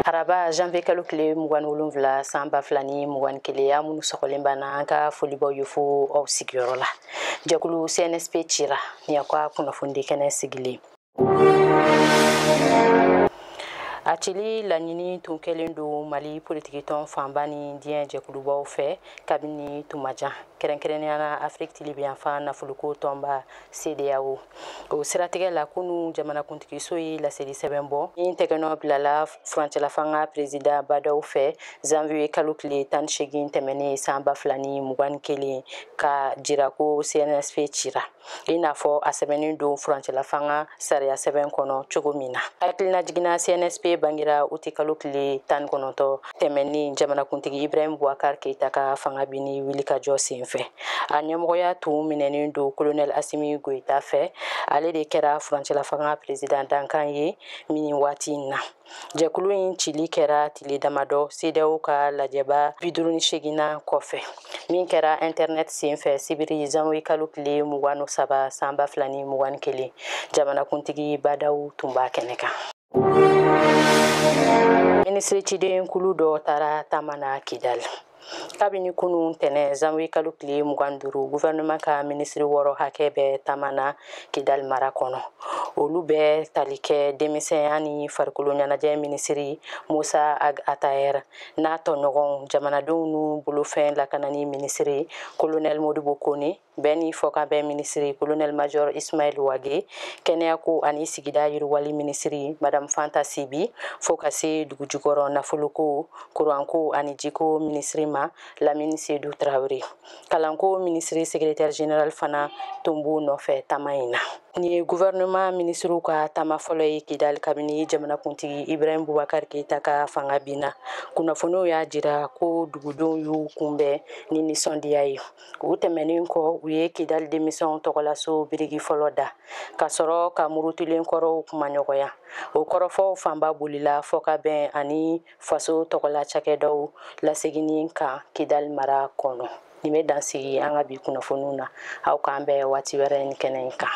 araba janvier kalo tile mugan wolonwula san ba fila ni mugan ni kelen aw minnu sɔgɔlen b'an na an ka foli b'aw ye fo aw sigiyɔrɔ la jɛkulu cnsp cira ni aw ka kunnafonidi kɛnɛ sigilen a cili laɲini tun kɛlen don mali politikitɔn fanba ni diɲɛ jɛkulubaw fɛ kabini tumajan kɛrɛnkɛrɛnnenya na afiriki tilebinyanfan nafolokow tɔnba CEDEAO o siratigɛ la kunu jamanakuntigiso ye laseli sɛbɛn bɔ min tɛgɛnɔ bilala furancɛlafanga perezidan ba ndaw fɛ zanviye kalo tile tan segin tɛmɛnen san ba fila ni mugan ni kelen ka jira ko cnsp cira i n'a fɔ a sɛbɛnnen don furancɛlafanga sariya sɛbɛn kɔnɔ cogo min na hakilinajigin na cnsp bangira uti kalo tile tan kɔnɔntɔn tɛmɛnen jamanakuntigi ibrahim bubakar keita ka fanga binni wulikajɔ senfɛ a ɲɛmɔgɔya tun minɛnen don kolonɛl asimi goyita fɛ ale de kɛra furancɛlafanga peresidan dankan ye nin waati in na jɛkulu in cili kɛra tile damadɔ CEDEAO ka lajɛba bi duuru ni seginnan kɔfɛ min kɛra intɛrnɛt senfɛ sibiri zanwiye kalo tile mugan ni saba san ba fila ni mugan ni kelen jamanakuntigi ba ndaw tun b'a kɛnɛ kan minisiri ciden kulu dɔ taara taama na kidali kabini kunu tɛnɛ zanwiye kalo tile mugan duuru guvɛrɛnɛman ka minisiri wɔɔrɔ hakɛ bɛ taama na kidali mara kɔnɔ olu bɛ tali kɛ denmisɛnya ni farikolo ɲɛnajɛ minisiri musa ag atayɛr n'a tɔɲɔgɔnw jamanadenw n'u bolofɛn lakanani minisiri kolonɛli modibo kone bɛn ni fɔkabɛn minisiri kolonɛli majɔr ismaɛl wage kɛnɛyako ani sigida yiriwali minisiri madamu fanta sibi fo ka se dugujukɔrɔ nafolokow kuranko ani jiko minisiri ma lamini sedu tarawele kalanko minisiri sekretɛri general fana tun b'u nɔfɛ taama in na nin ye guvɛrɛnɛman minisiriw ka taama fɔlɔ ye kidali kabini jamanakuntigi ibrahim bubakar keita ka fanga binna kunnafoniw y'a jira ko dugudenw y'u kunbɛn ni nisɔndiya ye o tɛmɛnen kɔ u ye kidali denmisɛnw tɔgɔlaso biriki fɔlɔ da ka sɔrɔ ka murutulen kɔrɔw kumaɲɔgɔnya o kɔrɔfɔw fanba bolila fɔkabɛn ani faso tɔgɔla cakɛdaw laseginni kan kidali mara kɔnɔ nin bɛ dan sigi an ka bi kunnafoniw na aw k'an bɛn waati wɛrɛ nin kɛnɛ in kan